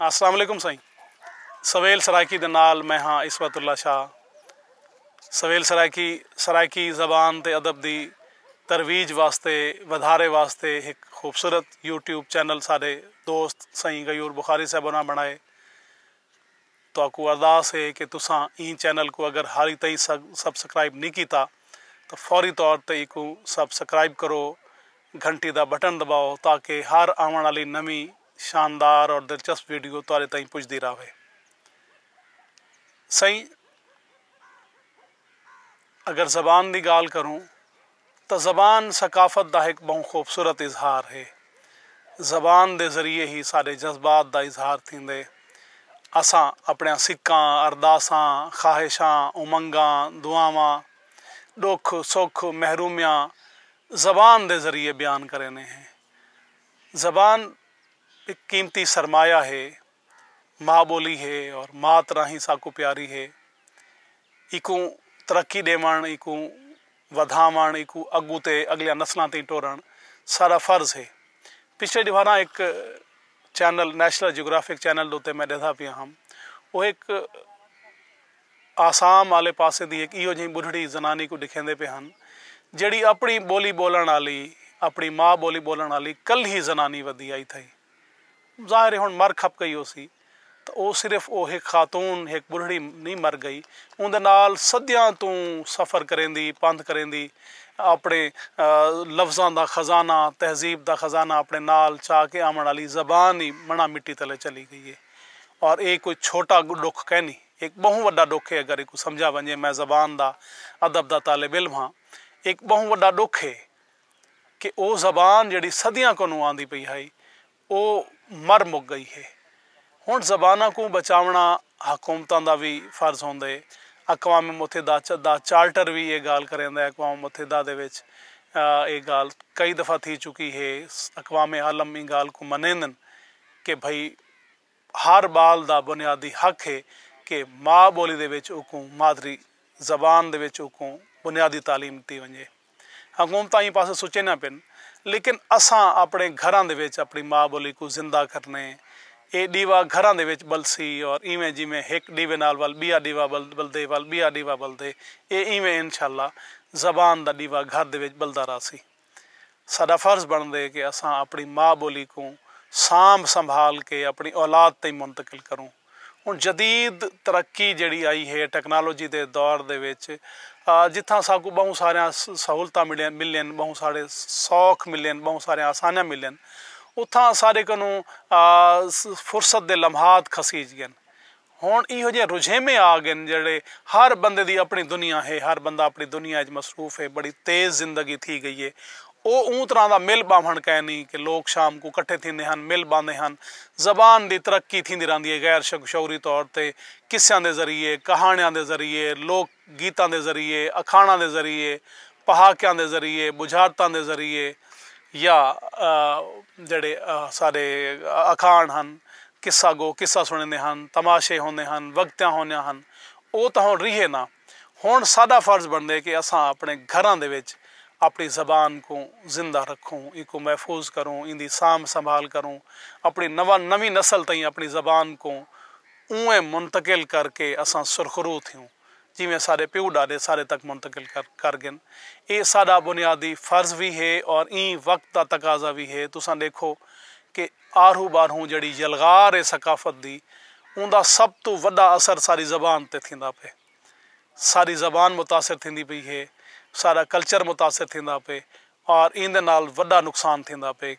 السلام علیکم سائیں سویل سرائیکی دے نال میں ہاں عصمت اللہ شاہ سویل سرائیکی سرائیکی زبان تے ادب دی ترویج واسطے ودھارے واسطے ہک خوبصورت یوٹیوب چینل ساڈے دوست سائیں غیور بخاری صاحب ہوراں بنڑائے تہاکوں ارداس ہے کہ تساں ایں چینل کوں اگر ہالی تئیں سبسکرائب نی کیتا تاں فوری طور تے ایکوں سب سکرائب کرو گھنٹی دا بٹن دباؤ تاکہ ہر آونڑ آلی نویں شاندار اور دلچسپ ویڈیو تہاڈے تائیں پجدی راہوے سئیں اگر زبان دی گالھ کروں تاں زبان ثقافت دا ہک بہوں خوبصورت اظہار ہے زبان دے ذریعے ہی ساڈے جذبات دا اظہار تھیندے اساں اپنڑیاں سکاں ارداساں خواہشاں امنگاں دعاواں ڈکھ سکھ محرومیاں زبان دے ذریعے بیان کریندے ہیں زبان ہک قیمتی سرمایہ ہے۔ ماء ٻولی ہے اور ماء طرح ہی ساکوں پیاری ہے۔ اینکوں ترقی ݙیوݨ، اینکوں ودھاوݨ، اینکوں اڳوں تے اڳلیاں نسلاں تئیں ٹورݨ سارا فرض ہے۔ پچھلے ݙیہاراں ہک چینل نیشنل جیوگرافک چینل اتے میں ݙیہدا پیا ہم۔ او ہک۔ آسام آلے پاسے دی ہک ایہو جہیں ٻڈھڑی زنانی کوں ݙکھیندے پئے ہن جیڑھی اپݨی ٻولی ٻولݨ آلی، اپݨی ما ٻولی ٻولݨ آلی کلھی زنانی ودی آئی تھئی۔ ظاہر ہے ہݨ مر کھپ ڳئی ہوسی تاں او صرف او ہک خاتون، ہک ٻڈھڑی نئیں مر ڳئی اوندے نال صدیاں توں سفر کریندی، پندھ کریندی اپݨے لفظاں دا خزانہ، تہذیب دا خزانہ اپݨے نال چا کے آوݨ آلی زبان ای مݨا مٹی تلے چلی ڳئی ہے اور ایہ کوئی چھوٹا ݙکھ کینی۔ ہک ٻہوں وݙا ݙکھ ہے اگر ایکوں سمجھا ونڄے میں زبان دا ادب دا طالب علم ہاں ہک ٻہوں وݙا ݙکھ ہے کہ او زبان جیڑھی صدیاں کنوں آندی پئی ہئی او مر مک ڳئی ہے ہݨ زباناں کوں بچاوݨا حکومتاں دا وی فرض ہوندے اقوام متحدہ دا چارٹر وی اے ڳالھ کریندے اقوام متحدہ دے وچ اے ڳالھ کئی دفعہ تھی چکی ہے اقوام عالم ایں ڳالھ کوں منیندن کہ بھئی ہر ٻال دا بنیادی حق ہے کہ ماء ٻولی دے وچ اوکوں مادری زبان دے وچ اوکوں بنیادی تعلیم ݙتی ونڄے۔ حکومتاں ایں پاسے سوچیندیاں پن لیکن اساں اپݨے گھراں دے وچ اپݨی ماء ٻولی کوں زندہ کرݨے۔ اے ݙیوا گھراں دے وچ ٻلسی اور ایویں جیویں ہک ݙیوے نال ول ٻیا ݙیوا ٻلدے ول ٻیا ݙیوا ٻلدے اے ایویں انشاءاللہ زبان دا ݙیوا گھر دے وچ ٻلدا رہسی۔ ساݙا فرض بݨدے کہ اساں اپݨی ماء ٻولی کوں سانبھ سنبھال کے اپݨی اولاد تئیں منتقل کروں۔ ہݨ جدید ترقی جیڑھی آئی ہے ٹیکنالوجی دے دور دے وچ جتھاں ساکوں ٻہوں ساریاں سہولتاں ملین ٻہوں سارے سوکھ ملین ٻہوں ساریاں آسانیاں ملین اتھاں اساݙے کنوں فرصت دے لمحات کھسیج ڳن ہݨ ایہو جیہے رجھیمے آ ڳن جیڑھے ہر بندے دی اپݨی دنیا ہے، ہر بندہ اپݨی دنیا اچ مصروف ہے، بڑی تیز زندگی تھی ڳئی ہے، او اوں طرح دا مل ٻاہوݨ کائنی کہ لوک شام کوں کٹھے تھیندے ہن، مل ٻاندے ہن، زبان دی ترقی تھیندی رہندی ہے، غیر شعوری طور تے قصیاں دے ذریعے، کہاݨیاں دے ذریعے، لوک۔ گیتاں دے ذریعے، اکھاݨاں دے ذریعے، پہاکیاں دے ذریعے، ٻجھارتاں دے ذریعے یا جیڑھے سارے اکھاݨ ہن، قصہ گو قصہ سݨیندے ہن، تماشے ہوندے ہن، وگتیاں ہوندیاں ہن، او تاں ہݨ ریہے نہ۔ ہݨ ساݙا فرض بݨدے کہ اساں اپݨے گھراں دے وچ اپݨی زبان کوں زندہ رکھوں، اینکوں محفوظ کروں، ایندی سانبھ سنبھال کروں، اپݨی نواں نویں نسل تئیں اپݨی زبان کوں۔ اونویں منتقل کر کے اساں سرخرو تھیوں جیویں اساڈے پیو ڈاڈے اساڈے تک منتقل کر گن اے اساڈا بنیادی فرض وی ہے اور ایں وقت دا تقاضا وی ہے تساں ڈیکھو کہ آرہو بارہوں جیڑھی یلغار اے ثقافت دی اوندا سب توں وڈا اثر اساڈی زبان تے تھیندا پئے۔ ساݙی زبان متاثر تھیندی پئی ہے، ساݙا کلچر متاثر تھیندا پئے اور ایندے نال وݙا نقصان تھیندا پئے،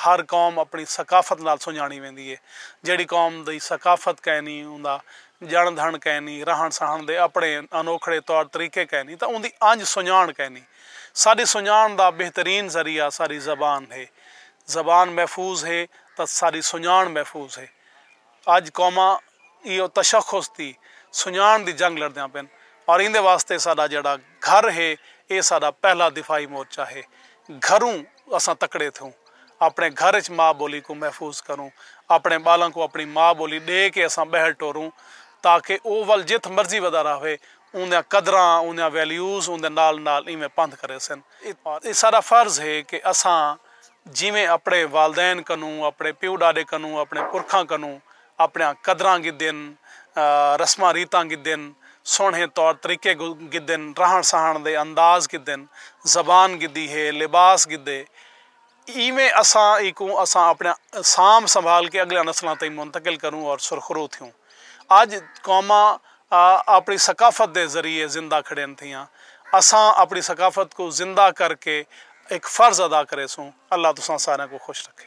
ہر قوم اپݨی ثقافت نال سنڄاݨی ویندی ہے، جیڑھی قوم دی ثقافت کائنی، اوندا ڄݨ دھݨ کائنی، رہݨ سہݨ دے اپݨے انوکھڑے طور طریقے کائنی تاں اوندی انڄ سنڄاݨ کائنی، ساݙی سنڄاݨ دا بہترین ذریعہ ساݙی زبان ہے، زبان محفوظ ہے تاں ساݙی سنڄاݨ محفوظ ہے۔ اج قوماں ایہو تشخص دی سنڄاݨ دی جنگ لڑدیاں پن اور ایندے واسطے ساݙا جیڑھا گھر ہے ایہ ساݙا پہلا دفاعی مورچہ ہے۔ گھروں اساں تکڑے تھیوں۔ اپݨے گھر اچ ماء ٻولی کوں محفوظ کروں۔ اپݨے ٻالاں کوں اپݨی ماء ٻولی ݙے کے اساں ٻہل ٹوروں تاکہ او ول جتھ مرضی ودا رہوے اوندیاں قدراں، اوندیاں ویلیوز اوندے نال نال ایویں پندھ کریسن۔ اے ساڈا فرض ہے کہ اساں جیویں اپنڑے والدین کنوں، اپنڑے پیو ڈاڈے کنوں، اپنڑے پرکھاں کنوں اپنڑیاں قدراں گھدن، رسماں ریتاں گھدن، سوہنڑے طور طریقے گھدن، رہنڑ سہنڑ دے انداز گھدن، زبان گھدی ہے، لباس گھدے، ایویں اساں ایکوں اساں اپݨیاں سانبھ سنبھال کے اڳلیاں نسلاں تئیں منتقل کروں اور سرخرو تھیوں۔ اڄ قوماں اپݨی ثقافت دے ذریعے زندہ کھڑین تھیاں۔ اساں اپݨی ثقافت کوں زندہ کر کے ہک فرض ادا کریسوں۔ اللہ تساں ساریاں کوں خوش رکھے۔